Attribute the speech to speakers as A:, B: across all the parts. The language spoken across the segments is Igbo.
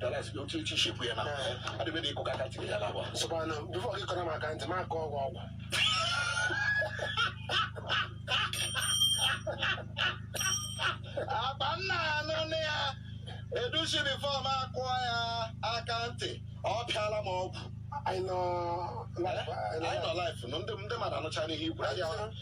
A: Dallas dị otu echi shekwu ya na adịbe na ịkụ aka ntị ya na agwa sọkwana before gị kụrụ m aka ntị m akọọ ọgwụ ọgwụ akpa nna anụ nne ya edusi before m akụọ ya aka ntị ọ pịala m ọgwụ anyị nọ anyị nọ live ndị mmadụ anụcha n'ihe ikwu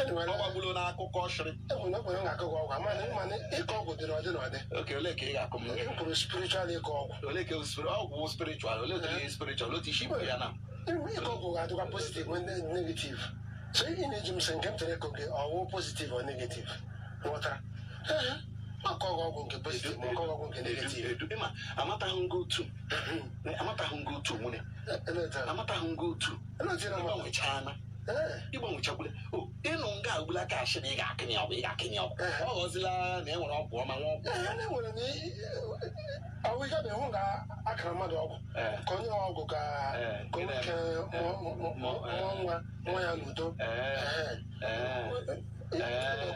A: Enwere ọ gbagburu n'akụkọ ashịrị enwere enwere na akụkọ ọgwụ ama na ịma na ịkọ ọgwụ dị n'ụdị n'ụdị. oke ole ka ị ga-akọ m E kwuru spiritual ịkọ ọgwụ. ole ka spiri- ọgwụ spiritual ole ka ihe spiritual otu isi ibe ya na Ịma ịkọ ọgwụ ga-adịkwa
B: positive and ne- negative. So ị na-eji m sị nke m tere ịkọ gị ọgwụ positive or negative. Ghọtara? Ee, ọkọ gị ọgwụ nke positive ma ọkọ gị ọgwụ nke negative. Edu- ịma amataghị ngo
A: otu amataghị ngo otu nwunye Eleta. amataghị ngo otu Eleta na mgbanwechana ịgbanwechakwule ịnụ nga agbula ka ashị na ị ga-akọ ya ọgwụ ị ga-akọ ya ọgwụ ọ ghọzila na e nwere ọgwụ ọma nwee ọgwụ enwere na
B: ahụ ike na ịhụ ga akọrọ mmadụ ọgwụ ka onye ọgwụ ka ka nwoke mụọ nwa nwa ya n'udo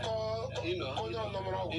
B: ka onye ọnọ mụrụ ọgwụ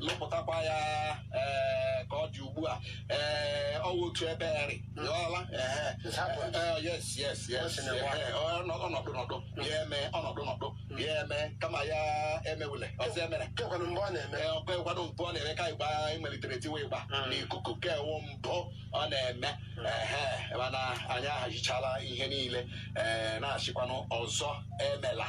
A: lụpụtakwa ya ee, ka ọ dị ugbu a ee, ọ wụ otu ebe eri ghọọla ehe. Ee, yes yes yes ehe, ọ nọ- ọnọdụ nọdụ ya eme ọnọdụ nọdụ ya eme kama ya emewule ọzọ emere kekwanụ mgbe ọ na-eme Ee, ọkwa ịkwado mbụ ọ na-eme ka ịgba anyị melitere tiwe ịgba Mm. n'ikuku nke a wụ mbụ ọ na-eme ehe mana anyị ahazichala ihe niile ee na-asịkwanụ ọzọ emela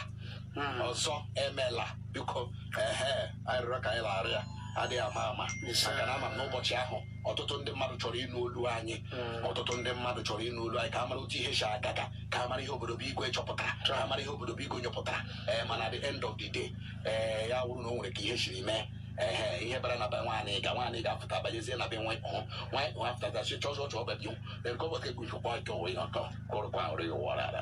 A: ọzọ emela biko ehe anyị rịọrọ ka anyị laghara ya adịghị mma maka na ama m n'ụbọchị ahụ ọtụtụ ndị mmadụ chọrọ ịnụ olu anyị hmm. ọtụtụ ndị mmadụ chọrọ ịnụ olu anyị ka a mara otu ihe si aga ka ka a mara ihe obodo bụ igwe chọpụtara ka a mara ihe obodo bụ igwe nyọpụtara ee eh, mana at the end of the day ee eh, ya wụrụ na o nwere ka ihe siri mee ee ihe bara na be nwaanyị ga nwaanyị ga-afụta banyezie na be nwa nwaanyị afụtatasị chọzọ chọọ bebi erikọbọta egwu ifụkwa ọjọọ ịnọtọ kụrụkwa ụrụ ya ụwa rara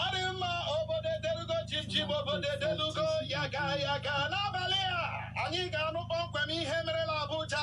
A: Adị mma obodo edelugo chimchim obodo edelugo ya ga ya ga n'abalị a anyị ga-anụ kpọmkwem ihe mere la Abuja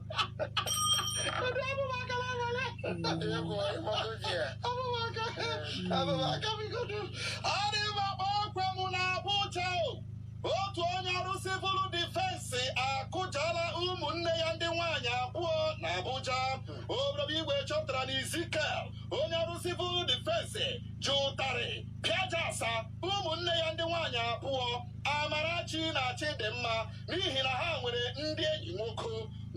A: otu onye ọrụ civil defense akụjala ụmụnne ya ndị nwaanyị abụọ na Abuja obodo igwe chọpụtara na Ezekiel onye ọrụ civil defense ji ụtarị pịajasa ụmụnne ya ndị nwaanyị abụọ Amarachi na Chidimma n'ihi na ha nwere ndị enyi nwoke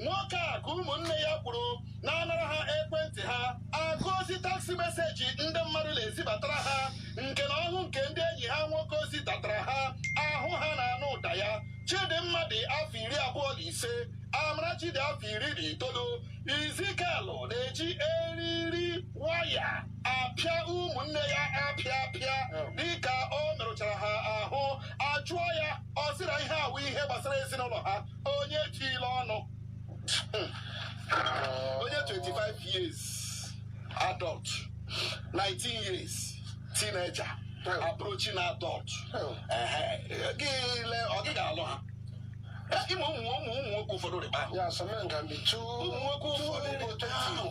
A: nwoke a ka ụmụnne ya kwuru na-anara ha ekwentị ha agụ ozi text message ndị mmadụ na-ezibatara ha nke na ọ hụ nke ndị enyi ha nwoke zidatara ha ahụ ha na-anụ ụda ya Chidimma dị afọ iri abụọ na ise Amarachi dị afọ iri na itoolu Ezekiel na-eji eriri waya apịa ụmụnne ya apịa apịa dịka o merụchara ha ahụ a jụọ ya ọ sị na ihe a wụ ihe gbasara ezinụlọ ha onye etila ọnụ onye 25 years adult 19 years teenager approaching na adult gị lee ọ gị ga-alụ ha ị ma ụmụ ụmụ ụmụ nwoke ụfọdụ rịba ahụ ụmụ nwoke ụfọdụ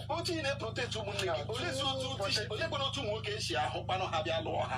A: otu ị na-eprotect ụmụnne gị oleezi otu oleekwanụ otu ụmụ nwoke esi ahụkwanụ ha bịa lụọ ha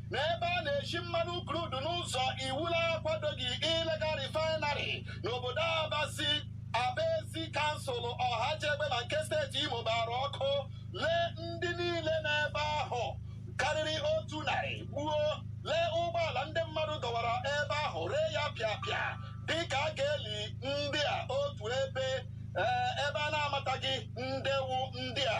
A: na ebe a na-eshi mmanụ crude n'ụzọ iwu na-akwadoghị illegal refinery n'obodo abasi Abaezi kansụl Ohaji Egbema nke steeti Imo gbara ọkụ lee ndị niile nọ ebe ahụ karịrị otu narị gbuo lee ụgbọala ndị mmadụ dọwara ebe ahụ ree ya pịapịa dịka a ga-eli ndị a otu ebe ee, ebe a na-amataghị nde wụ ndị a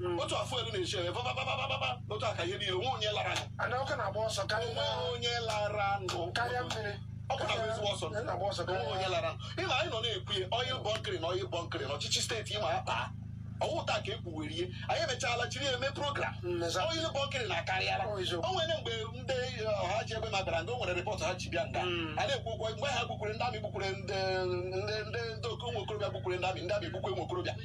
A: hmm. otu afọ elu na-eche ebe bababababa otu aka ihe niile o nwee onye lara anụ ọkụ na-agba ọsọ karịa onye lara nụ karịa mmiri ọkụ na-agba ezigbo ọsọ na-agba ọsọ o nwee onye lara ị ma anyị nọ na-ekwu ya oil bunkering a oil bunkering a ọchịchị steeti Imo akpa ọ wụ taa ka e kwuwere ihe anyị emechaala jiri eme program hmm, oil bunkering akarịala oh, o nwere mgbe ndị Ohaji Egbema bara ndị o nwere report ha ji bịa nga hmm. a na-ekwu okwu mgbe ha gbukwere ndị amị gbukwere ndị ndị ndị okorobịa gbukwere ndị amị ndị amị gbukwe ụmụ okorobịa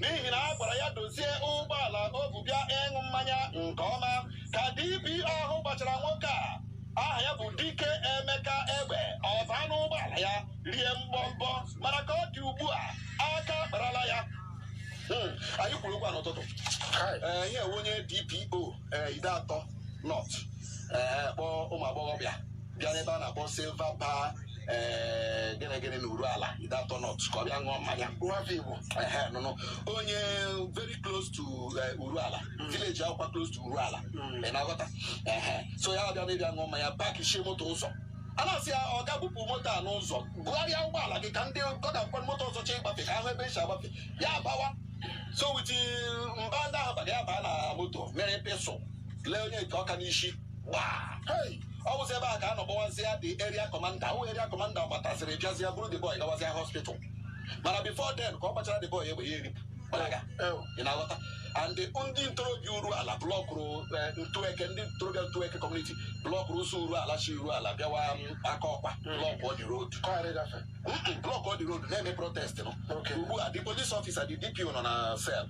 A: n'ihi na a gwara ya dozie ụgbọala o bu bịa ịṅụ mmanya nke ọma ka DPO ahụ gbachara nwoke a aha ya bụ Dike Emeka egbe ọ baa n'ụgbọala ya rie mgbọmbọ mana ka ọ dị ugbu a aka akparala ya Hmm, anyị kwuru okwu a n'ụtụtụ Ee, ihe onye DPO ee, Ideato North ee, kpọọ ụmụ agbọghọbịa bịa n'ebe a na-akpọ Silver Bar ee gịnị gịnị na Urualla Ideato North ka ọ bịa ṅụọ mmanya nwafọ igbo ehe nụnụ onye very close to eh, Urualla village Akokwa close to Urualla ị na-aghọta ehe so ya bịa n'ịbịa ṅụọ mmanya pakishie moto ụzọ a na-asị ya ọga bupụ moto a n'ụzọ bugharịa ụgbọala gị ka ndị ọkada mkpọ moto ọzọ chee ịgbafe ka a hụ ebe esi agbafe ya abawa so with mba ndị ahụ bara ya baa na moto were pistol lee onye nke ọka n'isi ọ bụzi ebe a ka a nọ gbawazịa the area commander wụ area commander gbataziri bịazịa buru the boy gawazịa hospital mana before then ka ọ gbachara the boy egbe ya eripụ gbalaga ị na-aghọta and ndị ntorobịa Urualla blọkụrụ ntueke ndị ntorobịa ntueke community blọkụrụ ụzọ Urualla shi Urualla bịawa Akokwa blọkụọ the road blọkụọ the road na-eme protest nụ ugbu a the police officer the dpo nọ na cell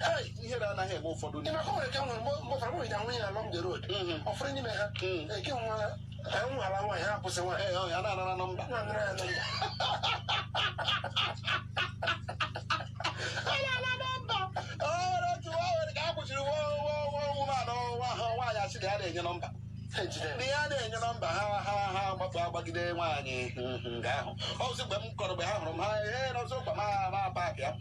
A: Hey, ihere anaghị eme ụfọdụ Ị ma ka o nwere ka nwere
B: mgbe mgbe ụfọdụ nwere ka nwunye na along the road Mhm. ọ fụrụ n'ime ha Mm. eke nwa ha nwa ala nwaanyị ha akwụsị nwaanyị Ee, ọ ya na-anara nọmba nwa
A: nara ya nọmba ọrụ otu nwa nwere ka a kwụchiri nwa nwa nwa nwụmanụ nwa ha nwaanyị asị na ya na-enye nọmba ha ejide ndị ya na-enye nọmba ha ha ha gbapụ agbagide nwaanyị nga ahụ ọ bụzi mgbe m kọrọ mgbe ha hụrụ m ha ee nọzọ ụkwa ma ma paakị ya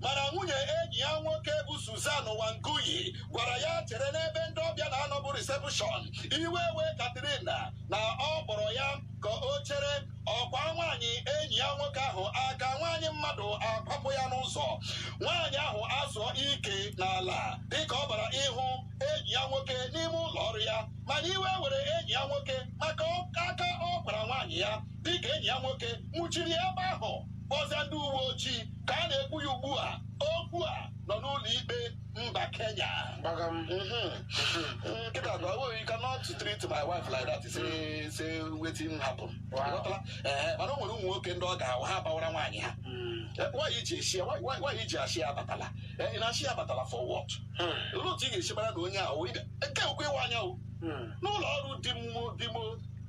A: mana nwunye enyi ya nwoke bụ Susan Wangui gwara ya chere n'ebe ndị ọbịa na-anọ bụ reception iwe wee Katrina na ọ kpọrọ ya ka o chere ọ kwaa nwaanyị enyi ya nwoke ahụ aka nwaanyị mmadụ akwapụ ya n'ụzọ nwaanyị ahụ azụọ ike n'ala dịka ọ bara ịhụ enyi ya nwoke n'ime ụlọ ọrụ ya mana iwe were enyi ya nwoke maka aka ọ kwara nwaanyị ya dịka enyi ya nwoke nwụchiri ebe ahụ kpọzie ndị uwe ojii ka a na-ekwu ya ugbu a okwu a nọ n'ụlọ ikpe mba kenya gbaga m nkịta na ọwụ you cannot treat my wife like that say say wetin happen Wow. Ịghọtala? Ee, mana o nwere ụmụ nwoke ndị ọ ga-awụ ha bawara nwaanyị ha Eh, why i ji ashị ya why why i ji ashị ya abatala Eh, ị na-ashị ya abatala for what olee otu ị ga-esi mara na onye ahụ nke okwe ịwa anya n'ụlọ ọrụ di m di m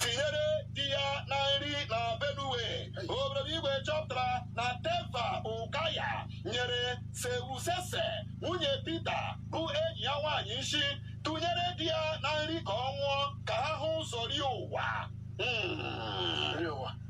A: tinyere di ya na nri na benue obodo igwe chọpụtara na teva ụkaya nyere seusese nwunye Peter bụ enyi ya nwaanyị nshi tụnyere di ya na nri ka ọ nwụọ ka ha hụ ụzọ rie ụwa Mm.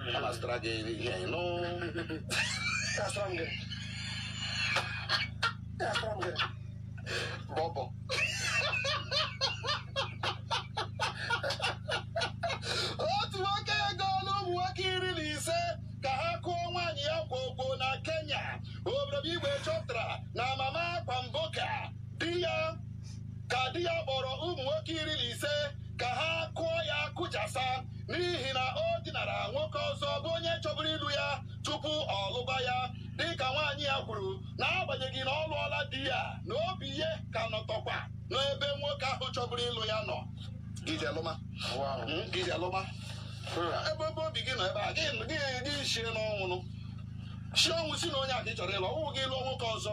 A: a na-azụtara gị ihe anyị nụ Gasịra m gị. Gasịra m gị. bọbọ otu nwoke egoola ụmụ nwoke iri na ise ka ha kụọ nwaanyị ya gwogwo na kenya obodo igwe chọpụtara na mama Kwamboka di ya ka di ya kpọrọ ụmụ nwoke iri na ise ka ha kụọ ya kụjasa n'ihi na o dinara nwoke ọzọ bụ onye chọburu ịlụ ya tupu ọ lụba ya dịka nwaanyị ya kwuru na agbanyeghị na ọ lụọla di ya na obi ya ka nọtọkwa n'ebe nwoke ahụ chọburu ịlụ ya nọ gị je lụma hmm, gị je lụma hmm. ebe ebe obi gị nọ ebe a gị gị shie ọnwụ nụ shie ọnwụ sị na onye a ka ị chọrọ ịlụ ọ wụghị ị lụọ nwoke ọzọ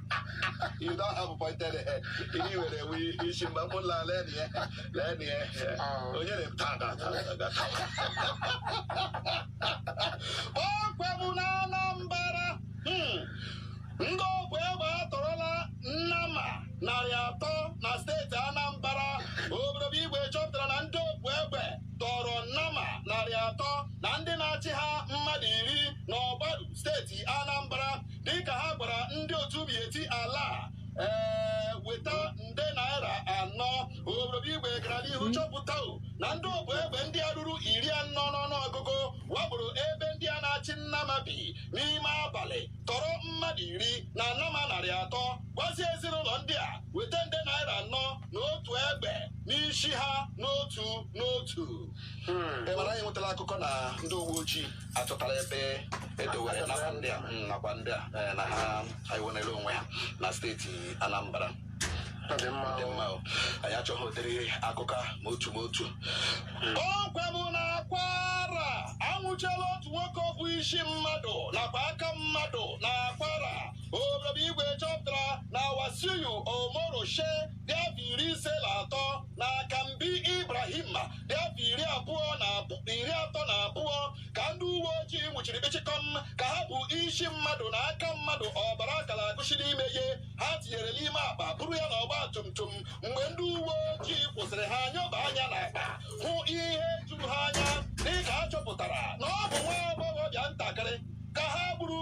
A: you don't have pointed head. Anyway, we you should not put la let yeah. Let yeah. Oh, you didn't ta ta ta ta ta. Ọkwa bụ na Anambra. Hmm. Ndị obu egbe atọrọla nnama narị atọ na steeti Anambra. Obodo Igwe chọpụtara na ndị obu egbe tọrọ nnama narị atọ na ndị na-achị ha mmadụ iri n'Ọgbaru steeti Anambra. dịka ha gwara ndị otu Miyetti Allah ee weta nde naira anọ obodo igwe gara n'ihu chọpụta na ndị obu egbe ndị a ruru iri anọ n'ọnụọgụgụ wakporo ebe ndị a na-achị nnama bi n'ime abalị tọrọ mmadụ iri na nnama narị atọ gwazie ezinụlọ ndị a weta nde naira anọ na otu egbe n'isi ha n'otu n'otu mana anyị nwetara akụkọ na ndị uwe ojii achọtara ebe e dowere nakwa ndị a mm, nakwa ndị a eh, na ha enwerela onwe ha na steeti anambra Ọ dị mma dị o. mma o. anyị achọghị ụdịrị akụkọ a ma otu ma otu ọkwa bụ na Kwara anwụchiela otu nwoke o bu isi mmadụ nakwa aka mmadụ na Kwara obodo igwe chọpụtara na Wasiu Omoroshe dị afọ iri ise na atọ na Akanbi Ibrahim dị afọ iri abụọ na abụ- iri atọ na abụọ ka ndị uwe ojii nwụchiri kpịchịkọm ka ha bu isi mmadụ na aka mmadụ ọbara ka na-agụsị n'ime ya ha tinyere n'ime akpa buru ya n'ọgba tum tum mgbe ndị uwe ojii kwụsịrị ha nyoba anya n'akpa hụ ihe juru ha anya dịka a chọpụtara na ọ bụ nwa agbọghọbịa ntakịrị ka ha gburu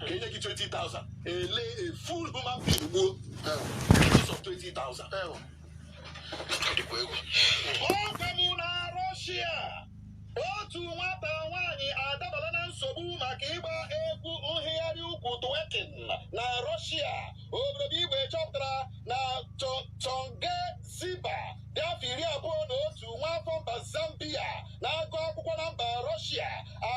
A: ka e nye gị 20,000 ele a full human being gbuo because of 20,000 ọ dịkwa egwu ọkwa bụ na rọshia otu nwata nwaanyị adabala na nsogbu maka ịgba egwu nhịgharị ukwu twerking na rọshia obodo igwe chọpụtara na Cho- Tionge Ziba dị afọ iri abụọ na otu nwa afọ mba zambia na-agụ akwụkwọ na mba rọshia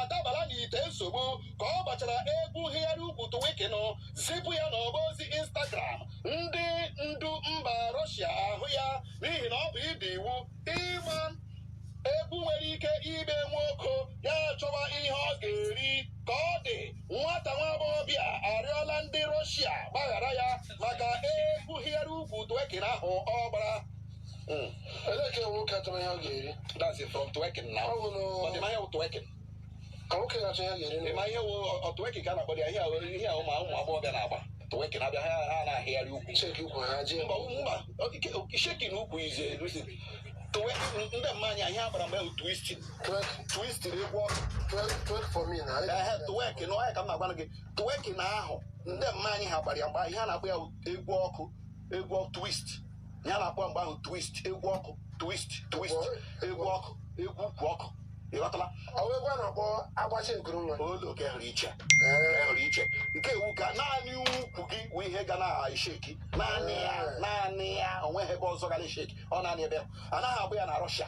A: adabala n'ite nsogbu ka ọ gbachara egwu hịgharị ukwu twerking zipụ ya n'ọba ozi instagram ndị ndu mba Russia ahụ ya n'ihi na ọ bụ ịda iwu ịgba egwu nwere ike ime nwoke ya chọwa ihe ọ ga-eri ka ọ dị nwata nwa agbọghọbịa arịọla ndị Russia gbaghara ya maka egwu hịgharị ukwu twerking ahụ ọ gbara Mm.
B: Ele ka nwoke achọrọ ihe ọ ga-eri. That's it from twerking
A: now. Ọ bụ na- Ọdịnaya bụ twerking. ka
B: nwoke ga-achọ ihe ọ ga-eri. ma ihe wụ ọ
A: twerking ka a na-akpọ ya ihe a wụ- ihe a ụmụ ụmụ agbọghọbịa na-agba twerking abịa ha ha na-ahịgharị ukwu Cheki ukwu ha jee. mba
B: mba
A: shaking ukwu ize erusi twerking ndị mma anyị ha gbara mgbe twisting Twerk, twisting egwu ọkụ twerk,
B: twerk for me na. ehe twerking ọ ya ka
A: m na-agwa gị twerking ahụ ndị mma anyị ha gbara ya mgbe ihe a na-akpọ ya egwu ọkụ egwu ọkụ twist ihe a na-akpọ mgbe ahụ twist egwu ọkụ twist twist egwu ọkụ egwu ukwu ọkụ ị ghọtala ọ wụ egwu a na-akpọ
B: agbacha ekuru nwa olu ka ehụrụ
A: iche ehụrụ iche nke a wụ ka naanị ukwu gị wụ ihe ga na-esheki naanị ya naanị ya onweghị ebe ọzọ ga na-esheki ọ naanị ebe ahụ. anaghị agba ya na Russia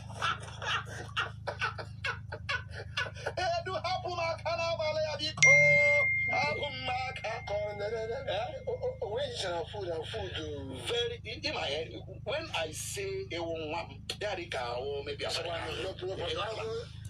A: edu hapụ m aka n'abalị ya biko hapụ m aka ka ọ
B: na-eri original food and food very in
A: my head when i say ewu nwa m ya dị ka ahụ mebi asọrọ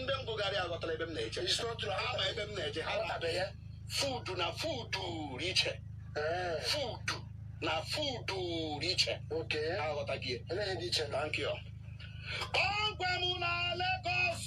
A: ndị ngụgharị aghọtara ebe m na-eje a ma ebe m na-eje ha tabeghị food na food dị iche food na food dị iche aghọtaghị iche thank you ọgwa m na Lagos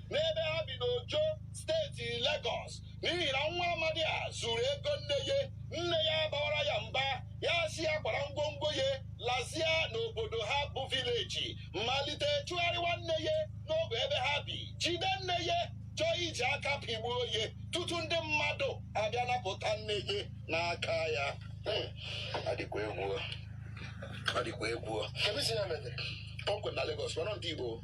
A: n'ebe ha bi n'Ojo steeti Lagos n'ihi na nwa amadi a zuru ego nne ya nne ya bawara ya mba ya sị ya kwara ngwongwo ya lazia n'obodo ha bụ vileji malite chụgharịwa nne ya n'ogbe ebe ha bi jide nne ya chọọ iji aka pịgbuo ya tutu ndị mmadụ abịa napụta nne ya n'aka ya Hmm. adịkwa egwu adịkwa egwu kemisi ya mere kpọmkwem na Lagos mana ndị Igbo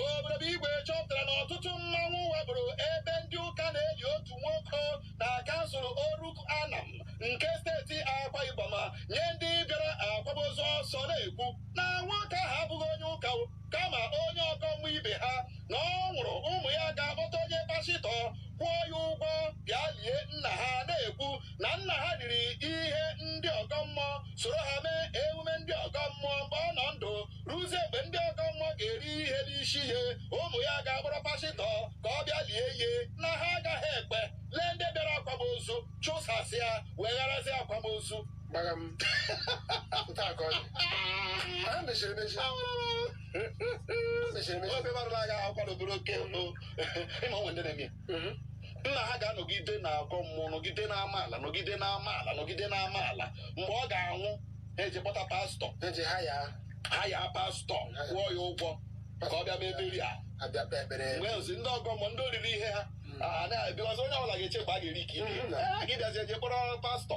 A: Obodo Igwe chọpụtara na ọtụtụ mmanwụ wakporo ebe ndị ụka na-eli otu nwoke na kansụl Oruk Anam nke steeti Akwa Ibom nye ndị bịara akwamozu ọsọ na-ekwu na nwoke ahụ abụghị onye ụka o, kama onye ọgọ mmụọ ibe ha na ọ nwụrụ ụmụ ya ga-akpọta onye pashịtọ kwụọ ya ụgwọ bịa lie nna ha na-ekwu na nna ha riri ihe ndị ọgọ mmụọ soro ha mee emume ndị ọgọ mmụọ mgbe ọ nọ ndụ ruzie mgbe ndị ọgọ mmụọ ga-eri ihe n'isi ye ụmụ ya ga-akpọrọ pasịtọ ka ọ bịa lie ye na ha agaghị ekwe lee ndị bịara akwamozu chụsasịa wegharazi akwamozu gbara m nke a ka ọ dị ha mechiri emechi ha mechiri emechi ofe mmadụ na-aga akwadobere oke ị ma o nwe ndị na-eme ya. mhm. nna ha ga-anọgide na-agọ mmụọ nọgide na amaala nọgide na amaala nọgide na amaala mgbe ọ ga-anwụ ha eje kpọta pastọ hire
B: pastọ
A: kwụọ ya ụgwọ ka ọ bịa mee burial mgbe ozi ndị ọgọ mmụọ ndị o riri ihe ha mhm. na-abịazi onye ọbụla ga-eche mgbe a ga-eri ka ibe mhm. ha ga-abịazi eje kpọrọ pastọ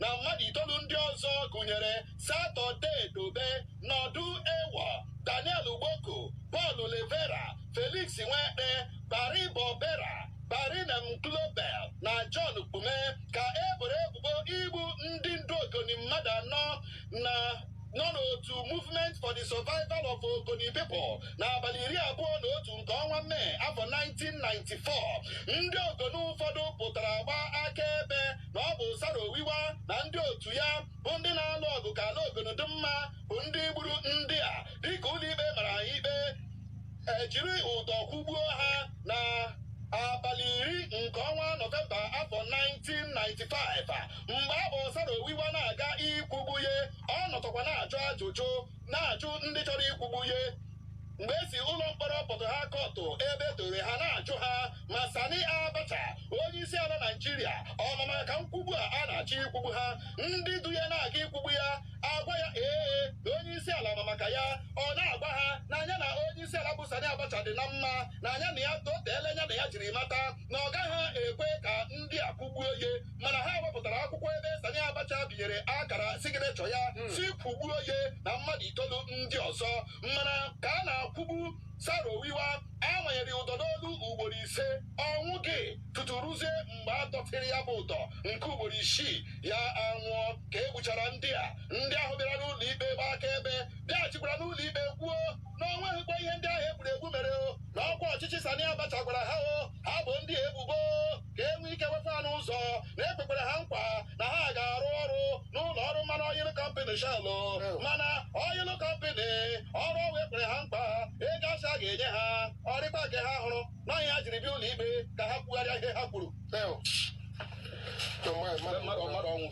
A: na mmadụ itoolu ndị ọzọ gụnyere Saturday Dobee, Nordu Eawo, Daniel Gbooko, Paul Levera, Felix Nwekpe, Baribor Bera, Barinem Kiobel na John Kpume ka e boro ebubo igbu ndị ndu Ogoni mmadụ anọ nọ n'otu Movement for the Survival of Ogoni People n'abalị iri abụọ na otu nke ọnwa Mee afọ 1994 ndị Ogoni ụfọdụ pụtara gbaa akaebe na ọ bụ Saro Wiwa na ndị otu ya bụ ndị na-alụ ọgụ ka ala Ogoni dị mma bụ ndị gburu ndị a dịka ụlọikpe mara ha ikpe e jiri ụdọ kwụgbuo ha na abalị iri nke ọnwa Nọvemba afọ 1995 a, mgbe e bu Saro Wiwa na-aga ikwugbu ya ọ nọtọkwa na-ajụ ajụjụ na-ajụ ndị chọrọ ikwugbu ya mgbe e si ụlọ mkpọrọ Port Harcourt ebe e dore ha na-ajụ ha ma Sani Abacha onye isi ala Naịjirịa ọ ma maka nkwugbu a a na-achọ ikwugbu ha ndị du ya na-aga ikwugbu ya agwa ya ee na onye isi ala ma maka ya ọ na-agwa ha na nya na onye isi ala bụ Sani Abacha dị na mma na nya na ya toteela anya na ya jiri mata na ọ gaghị ekwe ka ndị a kwụgbuo ya mana ha wepụtara akwụkwọ ebe Sani Abacha binyere akara signature ya sị kwụgbuo ya na mmadụ itoolu ndị ọzọ mana ka a na-akwụgbu Saro Wiwa a manyere ụdọ n'olu ugboro ise ọ nwụghị tutu ruzie mgbe a dọtịrị ya bụ ụdọ nke ugboro isii ya anwụọ ka e gbuchara ndị a ndị ahụ bịara n'ụlọ ikpe gbaa akaebe bịaghachikwara n'ụlọ ikpe kwuo na o nweghịkwa ihe ndị ahụ e gburu egbu mere o na ọkwa ọchịchị Sani Abacha gwara ha o ha boo ndị a ebubo ka e nwee ike wefe ha n'ụzọ na e kwekwara ha nkwa na ha ga-arụ ọrụ n'ụlọ ọrụ mmanụ oil company Shell mana oil company ọrụ ahụ e kwere ha nkwa ego a sị a ga-enye ha ọ rịkwa nke ha hụrụ na ọ ya ha jiri bịa ụlọ ikpe ka ha kwugharịa ihe ha kwuru mmadụ ọnwụ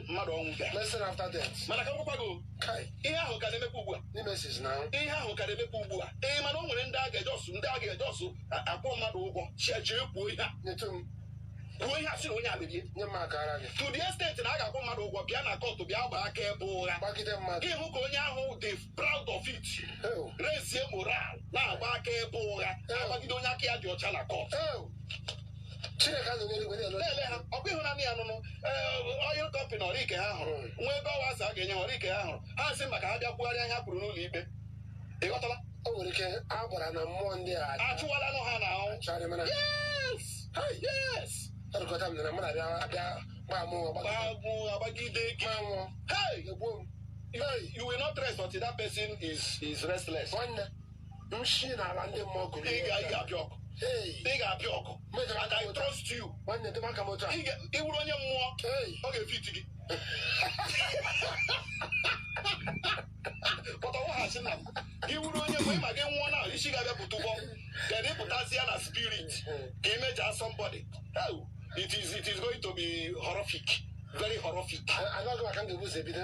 A: mmadụ ọnwụ mana ka m gwakwa gị o, Kai, ihe ahụ ka na-emekwa ugbu a Nemesis na ihe ahụ ka na-emekwa ugbu a ee mana o nwere ndị a ga-eje ọsụ ndị a ga-eje ọsụ a- akwụ mmadụ ụgwọ chechee kwuo ihe a nyetụ m kwuo ihe a sị na onye a mere ihe nye m aka ara gị to the extent na a ga-akwụ mmadụ ụgwọ bịa na kọtụ bịa gbaa akaebe ụgha gbagide mmadụ ị hụ ka onye ahụ dị proud of it Ew, rezie moral na-agba akaebe ụgha na-agbagide onye aka ya dị ọcha na kọt ew. Chineke azụ n'eluigwe na-ele na-ele ha ọ bụ ịhụnanị ya nụnụ ọyịl kọmpịnị ọrụ ike ha hụrụ nwa ebe ọwa a sị a ga-enye ha ọrụ ike ha hụrụ ha sị maka ha bịa kwugharịa ihe ha kwuru n'ụlọ ikpe ị ghọtala o nwere ike
B: a gwara na mmụọ ndị a achụwalanụ ha na
A: ahụ chọrọ mana yes yes erikọta m na
B: mmadụ abịa abịa gbaa mụ ọgba gbagbu agbagide
A: gị gbaa mụ hey egbuo m you will not rest until that person is is restless nwanne
B: m shi n'ala ndị mmụọ gụrụ ị ga- ị ga-abịa
A: ọgụ Hey, ị ga-abịa ọgụ mejọrọ and aka I m otu a. trust you nwanne dị m aka m otu a Ị
B: ga- ị wụrụ onye mmụọ
A: Hey, ọ ga-efiti gị pụta wụghachi na m. gị wụrụ onye mmụọ ị ma gị nwụọ na isi ga-abịa pụta ụgbọ then ị pụtazie na spirit ka ị mejaa somebody Oh, it is it is going to be horrific very horrific amaghị m ka m ga-ebu
B: ụzọ ebido